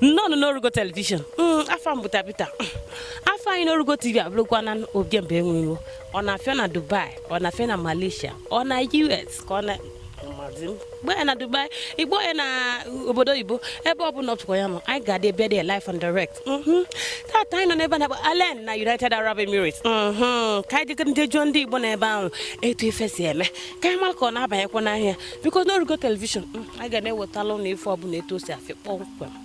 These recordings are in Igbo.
nnọọnụ n'orugo telivishọn mm, afa m bụ Tabita mm, afa anyị n'orugo tv abụrụkwa na ojemba enwe iro ọ na-afịọ na Dubai ọ na-afịọ na Malaysia ọ na US ka ọ na gba ya na dubai igbo ya na obodo oyibo ebe ọ bụla ọpụkwa ya nọ anyị ga-adị bịa dị live and direct mhm. tata anyị nọ n'ebe a na-akpọ Al Ain na united arab emirates mhm. ka anyị jegara ndị jụọ ndị igbo na ebe ahụ etu ife si eme ka anyị mara ka ọ na-abanyekwa n'ahịa because n'orugo telivishọn mm, anyị ga na-ewetalụ ụnụ ife ọbụla etu o si afịọ kpọmkwem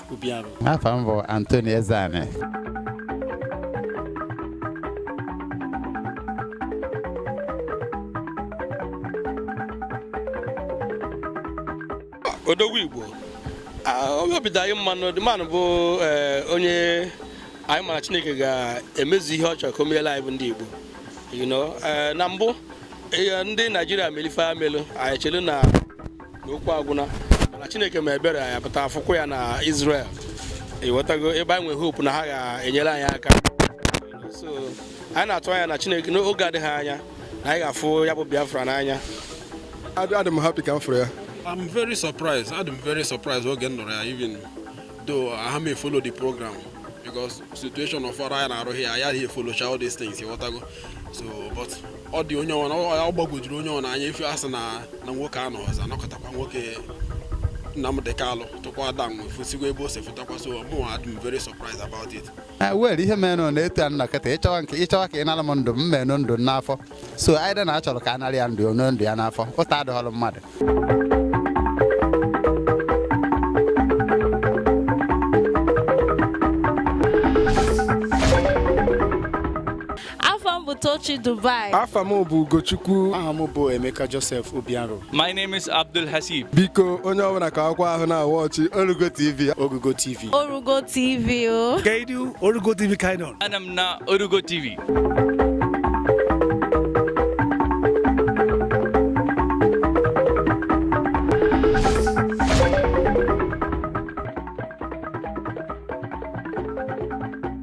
Obiaro afa m bụ Anthony Ezeani odogwu igbo onye obi dị anyị mma n'ọdịmanụ bụ eh, onye anyị ma na chineke ga-emezu ihe ọ chọrọ ka o meelụ anyị bụ ndị igbo eh, na mbụ eh, ndị naijiria melụ ife melụ anyị chelụ na n'okwu agwụna mana chineke mee ebere ya pụta afụkwu ya na Israel ịghọtago ebe anyị nwere hope na ha ga-enyere anyị aka so anyị na-atụ anya na chineke n'oge adịghị anya na anyị ga-afụ ya bụ Biafra n'anya adị m happy ka m fụrụ ya I'm very surprised adị m very surprised oge m nụrụ ya even Though anaha m efollow the program because situation of ọrụ anyị na-arụ here, anaha efollowcha all these things, ịghọtago. So, but ọ dị onye ọna ọ gbagwojuru onye ọna anya ife asị na na nwoke anọ ọzọ anọkọtakwa nwoke Nnamdi Kanu tụkwa ada nwe fusikwa ebe o si fụtakwa so mụ adị m very surprised about it. Eh, well ihe mere na etu a nọ kịta ịchọwa nke ịchọwa ka ị nara m ndụ mụ enoo ndụ n'afọ so anyị na achọrọ ka a nara ya ndụ o noo ndụ ya n'afọ ụta adịghọrọ mmadụ Afa m bụ Tochi Dubai. Afa m bụ Ugochukwu. Aha m bụ Emeka Joseph Obiaro. My name is Abdul Hasib. Biko onye ọbụla ka akwụkwọ ahụ na-awatch Orugo TV. Orugo TV. Orugo TV o. Oh. Kedu Orugo TV ka ị nọ? Anọ m na Orugo TV.